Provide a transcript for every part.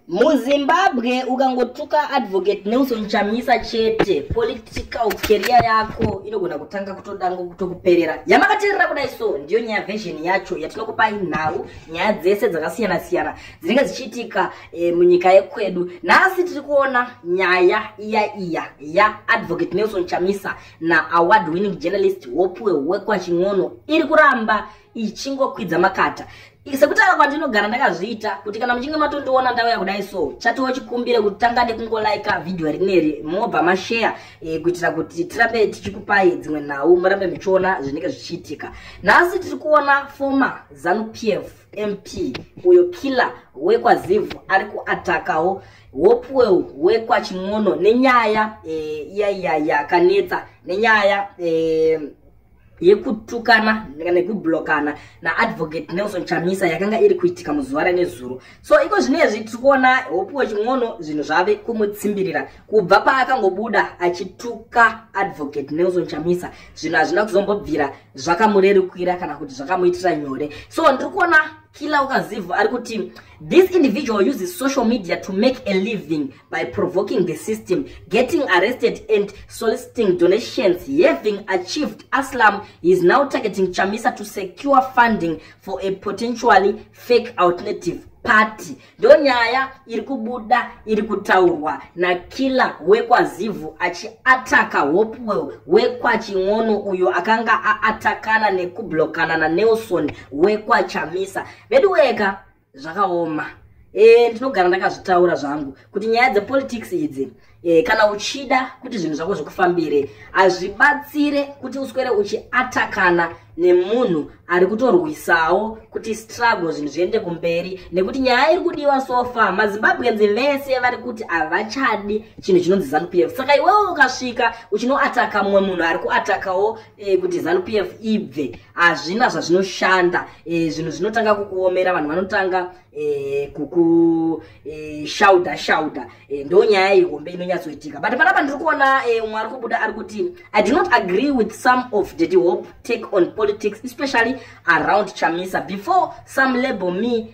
muzimbabwe ukangotuka advocate nelson chamisa chete political keria yako inogona kutanga kutodango kutokuperera yamakateerera kudai so ndiyo nyaya vhezheni yacho yatinokupai nhau nyaya dzese dzakasiyana siyana dzinenge dzichiitika e, munyika yekwedu nhasi tiri kuona nyaya iya iya yaadvocate nelson chamisa naaward winning journalist wopuwe wekwa chin'ono iri kuramba ichingokwidza makata sekutaura kwandinogara ndakazviita kuti kana muchinge matondiona ndauya kudai so chatiwo chikumbire kuti tanga nekungolaika vhidhiyo rineri mobva masheya e, eh, kuitira kuti tirambe tichikupai dzimwe nhau murambe muchiona zvinenge zvichiitika nhasi tiri kuona foma zanu p f mp uyo killer wekwazivu ari kuatakawo hopewell wekwachimwono nenyaya e, eh, iya iya yakanetsa nenyaya e, yekutukana nekublokana naadvocate nelson chamisa yakanga iri kuitika muzuva renezuro so iko zvinezvi tiri kuona hope wechimwono zvinhu zvave kumutsimbirira kubva paakangobuda achituka advocate nelson chamisa zvinhu hazvina kuzombobvira zvakamurerukira kana kuti zvakamuitira nyore so ndiri kuona kila ukazivu ari kuti this individual uses social media to make a living by provoking the system, getting arrested and soliciting donations, having achieved Aslam, he is now targeting Chamisa to secure funding for a potentially fake alternative party. Ndo nyaya iri kubuda iri kutaurwa nakiller wekwaZivu achiataka Hopewell wekwaching'ono uyo akanga aatakana nekublokanana Nelson wekwachamisa. Veduweka zvakaoma e, ndinogara ndakazvitaura zvangu kuti nyaya dzepolitics idzi e, kana uchida kuti zvinhu zvako zvikufambire hazvibatsire kuti uswere uchiatakana nemunhu ari kutorwisawo kuti struggle zvinhu zviende kumberi nekuti nyaya iri kudiwa sofa mazimbabwenzi vese vari kuti havachadi chinhu chinonzi zanupf saka iwewo ukasvika uchinoataka mumwe munhu ari kuatakawo e, kuti zanu pf ibve hazvina zvazvinoshanda e, zvinhu zvinotanga kukuomera vanhu vanotanga e, eh, kukushauda e, shauda e, ndo nyaya ihombe inonyatsoitika but panapa ndiri kuona e, umwe ari kubuda ari kuti i do not agree with some of daddy hope take on politics especially around chamisa before some label me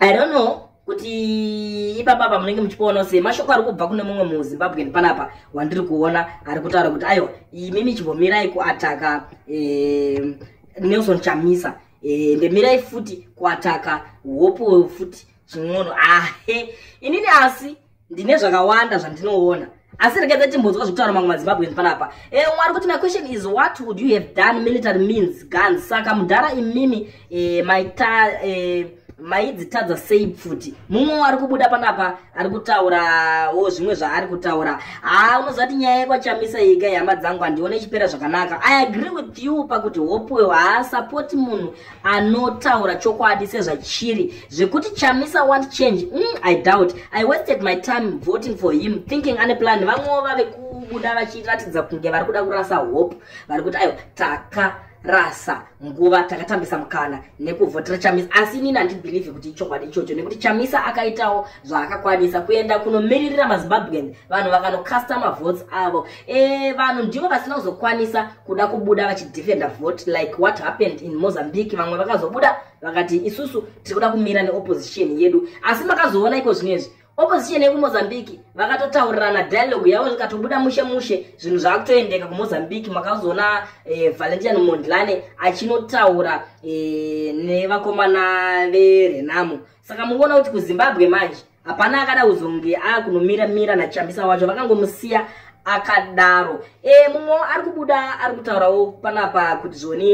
i don't know kuti ipapa apa munenge muchikuona sei mashoko ari kubva kune mumwe muzimbabwen panapa wandiri kuona ari kutaura kuti aiwa imimi chimbomirai kuataka eh, nelson chamisa eh, ndemirai futi kuataka hope futi chin'ono ahe ah, inini asi ndine zvakawanda zvandinoona asi rekedza timbonzwa zvekutaura mamwe mazimbabweans panapa e eh, mwari kuti my question is what would you have done military means guns saka mudhara imimi e, maita e, maidzitadza sei pfuti mumwe ari kubuda panapa ari kutaurawo zvimwe zvaari kutaura haa ah, unozati nyaya yekwachamisa yega yehama dzangu handione ichipera zvakanaka i agree with you pakuti hope haa support munhu anotaura chokwadi sezvachiri zvekuti chamisa want change mm, i doubt i wasted my time voting for him thinking ane plan vamwewo vave kubuda vachiratidza kunge vari kuda kurasa hope vari kuti aiwa taka rasa nguva takatambisa mukana nekuvhotera chamisa asi inini handibhilivhi kuti ichokwadi ichocho nekuti chamisa akaitawo zvaakakwanisa kuenda kunomiririra mazimbabwean vanhu vakanokasta mavotes avo e, vanhu ndivo vasina kuzokwanisa kuda kubuda vachidefenda vote like what happened in mozambique vamwe vakazobuda vakati isusu tiri kuda kumira neopposition yedu asi makazoona iko zvino izvi opposition yekumozambique vakatotaurirana dialogue yavo zvikatobuda mushe mushe zvinhu zvaakutoendeka kumozambique makazoona e, valentian mondlane achinotaura e, nevakomana verenamo saka mukuona kuti kuzimbabwe manje hapana akada kuzonge akunomira mira nachambisa wacho vakangomusiya akadaro e, mumwe ari kubuda ari kutaurawo panapa kuti zvoni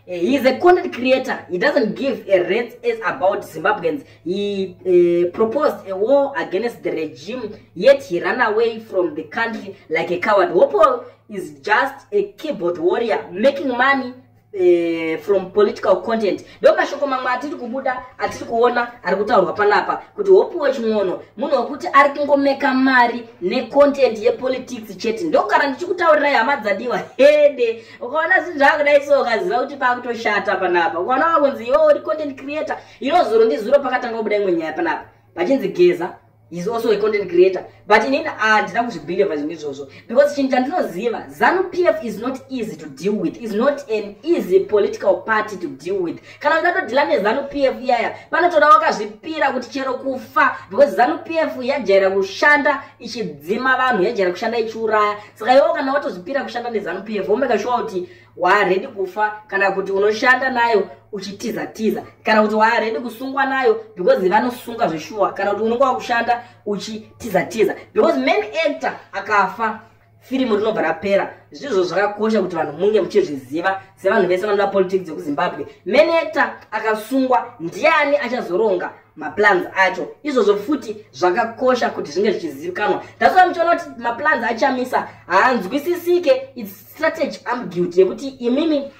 eh, he is a content creator he doesn't give a rate as about zimbabweans he uh, proposed a war against the regime yet he run away from the country like a coward hopo is just a keyboard warrior making money Eh, from political content ndo mashoko mamwe atiri kubuda atiri kuona ari kutaurwa panapa kuti hopiwa chimwono munhu wekuti ari kungomeka mari necontent yepolitics chete ndokugara ndichikutaurirai hama dzadiwa hede ukaona zvinhu zvaakudai so ukaziva kuti paakutoshata panapa ukaona wakunzi iwo uri content creator iro zuro ndizuro pakatanga kubuda imwe nyaya panapa pachinzi geza is also a content creator but inini handina kuzvibelieva zvinhu izvozvo because chinhu chandinoziva zanu p f is not easy to deal with is not an easy political party to deal with kana ungatodhila nezanu p f iyaya panotoda wakazvipira kuti chero kufa because zanu p f yajaira kushanda ichidzima vanhu yajaira kushanda ichiuraya saka iwo kana watozvipira kushanda nezanu p f womeka shuwa kuti waaredi kufa kana kuti unoshanda nayo uchitiza tiza kana kuti waaredi kusungwa nayo because vanosunga zveshuwa kana kuti unonga wakushanda uchitiza tiza because main actor akafa firimu rinobva rapera zvizvo zvakakosha kuti vanhu munge muchizviziva sevanhu vese vanoda politics yekuzimbabwe main actor akasungwa ndiani achazoronga maplans acho izvozvo futi zvakakosha kuti zvinge zvichizivikanwa ndasova muchiona kuti maplans achamisa haanzwisisike its strategy am guilty yekuti imimi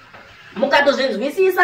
mukatozvinzwisisa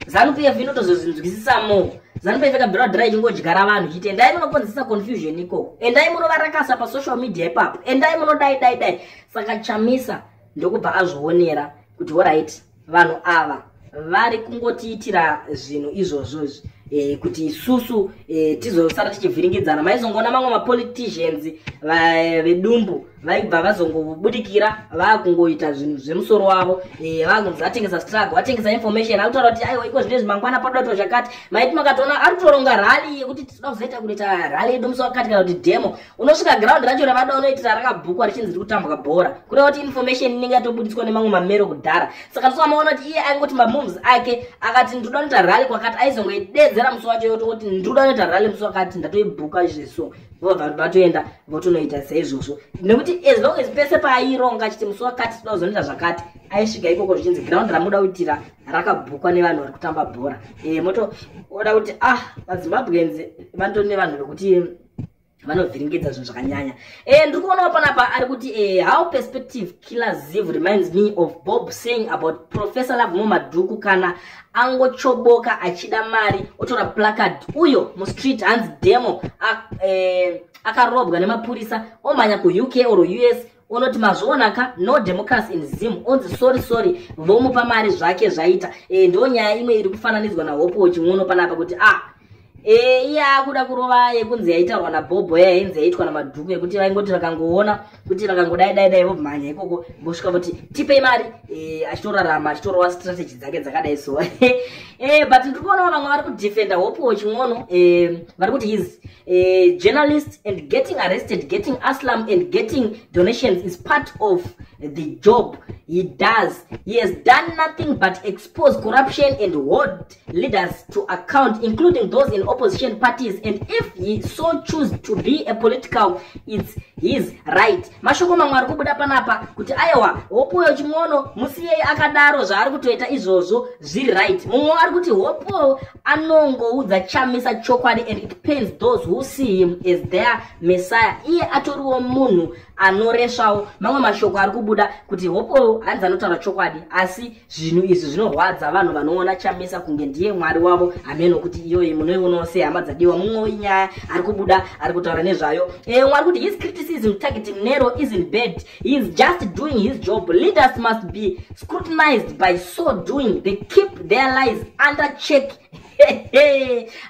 zanupf inotozozvinzwisisa mo zanupf ikabhirwa dhira ichingodyara vanhu chiti endai munokonzesa confusion ikoko endai munovarakasa pasocial media ipapo endai munodai dai dai saka chamisa ndokubva azvionera kuti orit vanhu ava vari kungotiitira zvinhu izvozvo izvi e, kuti isusu e, tizosara tichivhiringidzana maizongoona mamwe mapoliticians eh, vedumbu vaibva vazongobudikira vakungoita zvinhu zvemusoro wavo e, vakunzi vatengesa struggle vatengesa information akutaura kuti aiwa iko zvine zvimangwana padoto zvakati maiti makatoona ari kutoronga rally yekuti tinozoita kuita rally yedu musi wakati kana kuti demo unosvika ground racho ravada unoitira rakabhukwa richinzi riri kutambwa bhora kureva kuti information inenge yatobuditswa nemamwe mamero kudhara saka ndosamaona kuti iye aingoti mamoves ake akati ndiri kuda unoita rally kwakati aizongoidedzera musi wacho yoto kuti ndiri kuda unoita rally musi wakati ndatoibhuka izveso vobva vatoenda votonoita seizvozvo nekuti as long as pese paaironga achiti musi wakati tida kuzonoita zvakati aisvika ikoko zvichinzi ground ramuda kuitira rakabhukwa nevanhu vari kutamba bhora e, moto oda kuti ah vazimbabwenzi vanto nevanhu vekuti vanovhiringidza zvinhu zvakanyanya eh, ndiri kuonawo panapa ari kuti eh, how perspective killer ziv reminds me of bob saying about professor lavemo madhuku kana angochoboka achida mari otora placard uyo mustreet hanzi demo eh, akarobwa nemapurisa omhanya kuuk or us unoti mazviona ka no democracy in zim onzi sorry sorry vomupa mari zvake zvaita e, ndo nyaya imwe iri kufananidzwa nahope weching'ono panapa kuti a ah, e, eh, iye akuda kurova yekunzi yaitaurwa nabhobho yaya inzi yaitwa namadhuku yekuti vaingoti vakangoona kuti vakangodai dai dai vomhanya ikoko vosvika voti tipei mari e, achitorarama achitorova strategy dzake dzakadai so e, but ndiri kuonawo vamwe vari kudefenda hope weching'ono e, vari kuti hizi a journalist and getting arrested, getting asylum and getting donations is part of the job he does. He has done nothing but expose corruption and hold leaders to account, including those in opposition parties. And if he so choose to be a political, it's his right. Mashoko mamwe ari kubuda panapa kuti aiwa hopoyo chimwono musiyei akadaro zvaari kutoita izvozvo zviri right. Mumwe ari kuti hopoyo anongoudza chamisa chokwadi and it pains those who see him as their messiah iye atoriwo munhu anoresvawo mamwe mashoko ari kubuda kuti hopoyo hanzi anotaura chokwadi asi zvinhu izvi zvinorwadza vanhu vanoona chamisa kunge ndiye mwari wavo hameno kuti iyoyi munoionawo sei hama dzadiwa mumwewo inyaya ari kubuda ari kutaura nezvayo e, mwari kuti his criticism targeting nero isn't bad he is just doing his job leaders must be scrutinized by so doing they keep their lies under check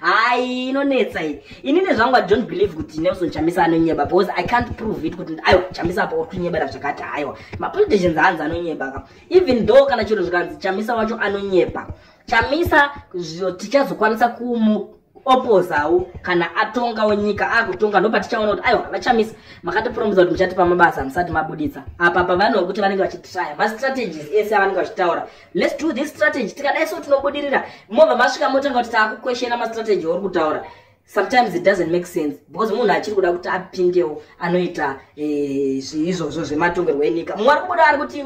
hayi inonetsa iyi ini nezvangu i don't believe kuti nelson chamisa anonyeba because i can't prove it kuti aiwa chamisa apa uri kunyebera zvakati haiwa mapoliticians hanzi anonyeba ka even though kana chiro zvikanzi chamisa wacho anonyeba chamisa zvo tichazokwanisa kumu opozawo kana atongawo nyika akutonga ndopa tichaona kuti aiwa vachamisa makatipromiza kuti muchatipa mabasa musati mabuditsa apa pavanoa kuti vanenge vachitraya mastrategies ese avanenge vachitaura lets do this strategy tikadai so tinobudirira mobva masvika motanga kuti taakukweshena mastrategy auri kutaura sometimes it doesn't make sense because munhu achiri kuda kuti apindewo anoita eh, izvozvo zvematongerwo enyika mumwe ari kubuda ari kuti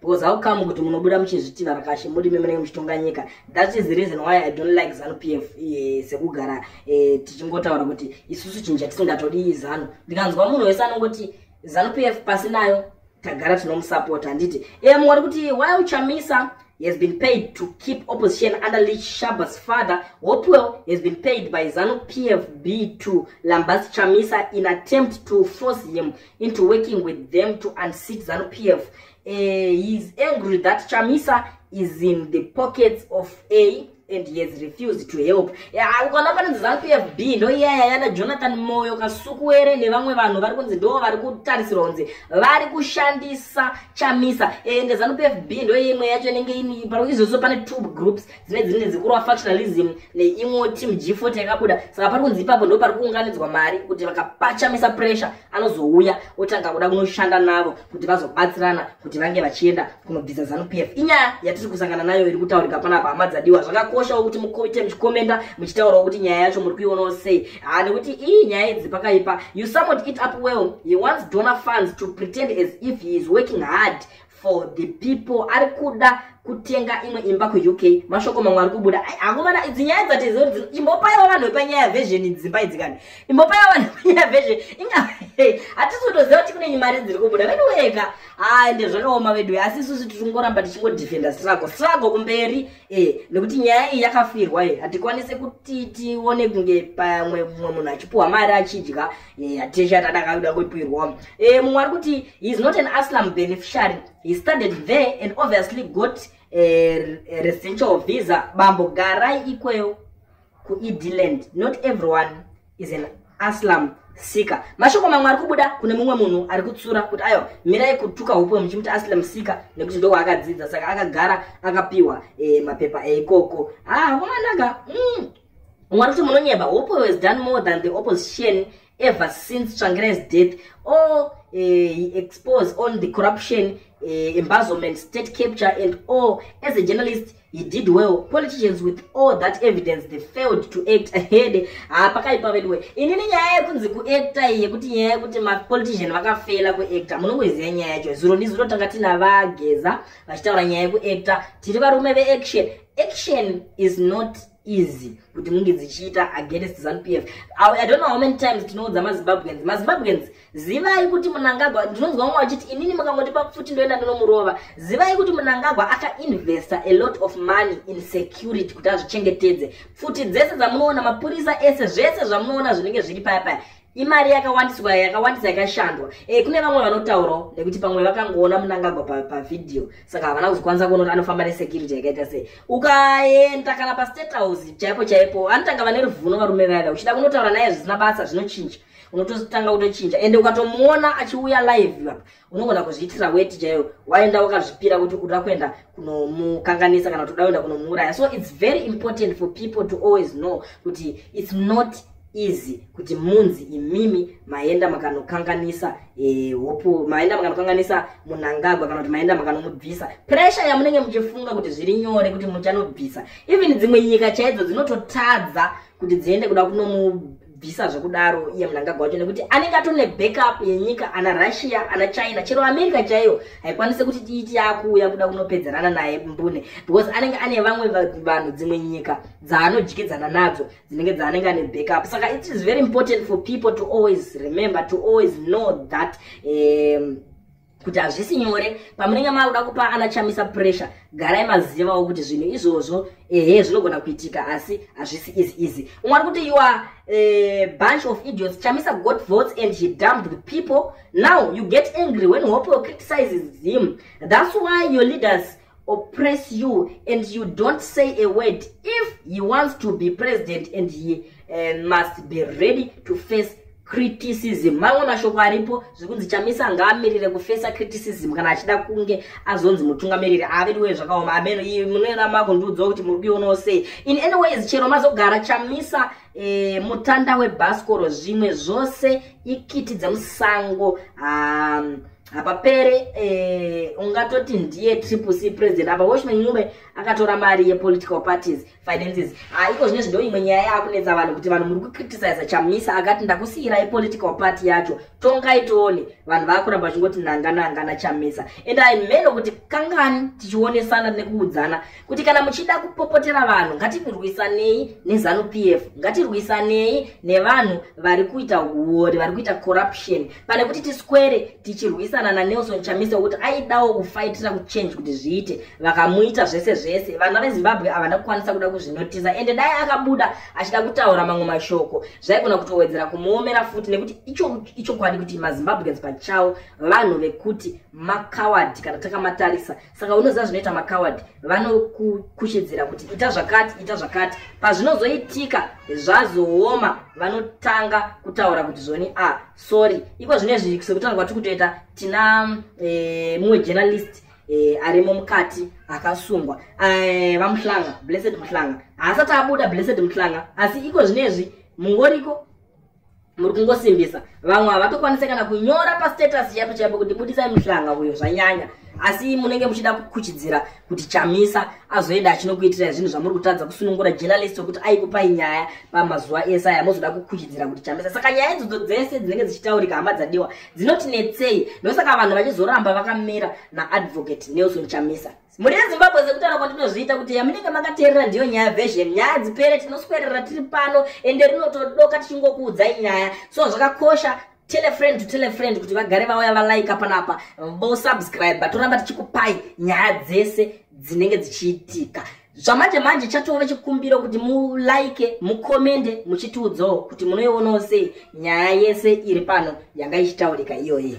because how come kuti munobuda muchizviti varakashi muri imi munenge muchitonga nyika that is the reason why i don't like zanu p f eh, sekugara eh, tichingotaura kuti isusu chinhu chatisingatodii zanu ndikanzwa munhu wese anongoti zanu p f pasi nayo tagara tinomusapota handiti em wari kuti why uchamisa he has been paid to keep opposition under leach shabas father hopewell has been paid by zanu pfb to lambas chamisa in attempt to force him into working with them to unseat zanu p f uh, eh, he is angry that chamisa is in the pockets of a and he has refused to help ukaona panonzi zanu p f b ndo iyaya yana jonathan moyo kasukuwere nevamwe vanhu vari kunzi ndo vari kutarisirwa kunzi vari kushandisa chamisa ende zanu p f b ndo imwe yacho inenge ini izvozvo pane two groups dzine dzine dzikurwa factionalism neimwewo team g40 yakabuda saka pari kunzi ipapo ndo pari kuunganidzwa mari kuti vakapachamisa pressure anozouya otanga kuda kunoshanda navo kuti vazobatsirana kuti vange vachienda kunobvisa zanupf inyaya yatiri kusangana nayo iri kutaurika panapa hama dzadiwa zvakakoshawo kuti muite muchikomenda muchitaurawo kuti nyaya yacho muri kuionawo sei haa nekuti iyi nyaya idzi pakaipa you summoned it up well he wants donor funds to pretend as if he is working hard for the people ari kuda kutenga imwe imba kuuk mashoko mamwe ari kubuda akomana idzi nyaya dzatiziva kuti imbopaiwa vanhu vepanyaya vhezheni dzimba idzi kani imbopaiwa vanhu vepanyaya vhezheni inga hatisi kutoziva kuti kune nyimari dziri kubuda vedu weka ha nde zvakaoma vedu asi isusu tiri kungoramba tichingodefenda strago strago kumberi e nekuti nyaya iyi yakafirwa e hatikwanise kuti tione kunge pamwe mumwe munhu achipuhwa mari achidya Yeah, Tisha Tadakaruda Kuipirwa. Eh, Mwarkuti, he's not an Aslam beneficiary. He studied there and obviously got a, a residential visa. Bambo Garai Ikweo ku Edland. Not everyone is an Aslam sika mashoko mamwe ari kubuda kune mumwe munhu ari kutsura kuti ayo mirai kutuka hupo muchimuti asile musika nekuti ndo waakadzidza saka akagara akapiwa e, mapepa eikoko ah, kumanaka mm. Mumwe anoti munonyeba, Hopo has done more than the opposition ever since Tsvangirais death. All Eh, he exposed on the corruption uh, embezzlement state capture and all as a journalist he did well politicians with all that evidence they failed to act ahead ah, pakaipa veduwe inini nyaya yekunzi kuacta iyi yekuti nyaya yekuti mapolitician vakafela kuacta munongoiziva nyaya yacho zuro ndizuro tanga tina vageza vachitaura nyaya yekuacta tiri varume veaction action is not easy kuti munge dzichiita against zanupf i don't know how many times tinoudza mazimbabweans mazimbabweans zivai kuti munangagwa ndinonzwa vamwe vachiti inini mukangondipa pfuti ndoenda ndinomurova zivai kuti munangagwa akainvesta a lot of money in security kuti azvichengetedze pfuti dzese dzamunoona mapurisa ese zvese zvamunoona zvinenge zviri paya paya imari yakawandiswa yakawandisa yakashandwa e, kune vamwe vanotaurawo nekuti pamwe vakangoona munangagwa pavhidhiyo pa saka havana kuzokwanisa kuona kuti anofamba nesecurity yakaita sei ukaenda kana pastate house chaipo chaipo anotanga vane ruvuno varume vaiva uchida kunotaura naye zvisina basa zvinochinja unototanga kutochinja ende ukatomuona achiuya live apa unogona kuzviitira weti chaiyo waenda wakazvipira kuti uda kuenda kunomukanganisa kana kuti uda kuenda kunomuuraya so its very important for people to always know kuti its not easy kuti munzi imimi maenda makanokanganisa eh, hopu e, maenda makanokanganisa munangagwa kana kuti maenda makanomubvisa pressure yamunenge muchifunga kuti zviri nyore kuti muchanobvisa even dzimwe nyika chaidzo dzinototadza kuti dziende kuda kunomu bvisa zvekudaro iye munangagwa wacho nekuti anenge atori nebackup yenyika ana russia ana china chero america chaiyo haikwanise kuti tiiti yaakuuya kuda kunopedzerana naye mbune because anenge ane vamwe vanhu dzimwe nyika dzaanodyidzana nadzo dzinenge dzaanenge ane backup saka it is very important for people to always remember to always know that um, kuti hazvisi nyore pamunenge maakuda kupa ana chamisa pressure garai mazivawo kuti zvinhu izvozvo ehe zvinogona kuitika asi hazvisi easy easy umwe ari kuti you are a eh, bunch of idiots chamisa got votes and he dumped the people now you get angry when hope criticizes him that's why your leaders oppress you and you don't say a word if he wants to be president and he uh, must be ready to face criticism mamwe mashoko aripo zvekunzi chamisa ngaamirire kufesa criticism kana achida kunge azonzi mutungamiriri aviriwe zvakaoma ameno iyi munoera mako ndiudzwa kuti muri kuionawo sei in any ways chero mazogara chamisa e, mutanda webhasikoro zvimwe zvose ikiti dzemusango um, apa pere eh, ungatoti ndiye triple c president apa watchman nyume akatora mari yepolitical parties finances ah, iko zvine zvindo imwe nyaya yakunetsa vanhu kuti vanhu muri kucriticiza chamisa akati ndakusiyirai political party yacho tongai tione vanhu vakuramba vachingoti nanga nanga nachamisa and i meno kuti kangani tichionesana nekuudzana kuti kana muchida kupopotera vanhu ngatirwisanei nezanu p f ngatirwisanei nevanhu vari kuita uori vari kuita corruption pane kuti tiswere tichirwisana nanelson chamisa wekuti aidawo kufaitira kuchange kuti zviite vakamuita zvese zvese vana vezimbabwe havana kukwanisa kuda kuzvinotisa ende dai akabuda achida kutaura mamwe mashoko zvaigona kutowedzera kumuomera futi nekuti ichokwadi kuti mazimbabweans pachavo vanhu vekuti makawadi kana takamatarisa saka unoziva zvinoita makawadi vanokukuchidzira kuti ita zvakati ita zvakati pazvinozoitika zvazooma vanotanga kutaura kuti zvoni a ah, sorry iko zvine zvi sekutaura kwatiri kutoita tina e, mumwe journalist e, arimo mukati akasungwa e, vamuhlanga blessed muhlanga haasati abuda blessed muhlanga asi iko zvine zvi mungoriko muri kungosimbisa vamwe havatokwanise kana kunyora pastatus chaipo chaipo kuti budisai muhlanga uyo zvanyanya asi munenge muchida kukuchidzira kuti chamisa azoenda achinokuitirai zvinhu zvamuri kutadza kusunungura journalist wekuti aikupai nyaya pamazuva ese aya mozoda kukuchidzira kuti chamisa saka nyaya idzodzo dzese dzinenge dzichitaurika hama dzadiwa dzinotinetsei ndosaka vanhu vachizoramba vakamira naadvocate nelson chamisa mhuri yezimbabwe sekutaura kwandinozviita kuti yamunenge makateerera ndiyo nyaya version nyaya dzipere tinoswerera tiri pano ende rinotodoka tichingokuudzai nyaya so zvakakosha telefriend to telefriend kuti vagare vauya valaika panapa vosubscribe toramba tichikupai nyaya dzese dzinenge dzichiitika zvamanje manje chatove chikumbiro kuti mulike mukomende muchitiudzawo kuti munoionawo sei nyaya yese iri pano yanga ichitaurika iyoyi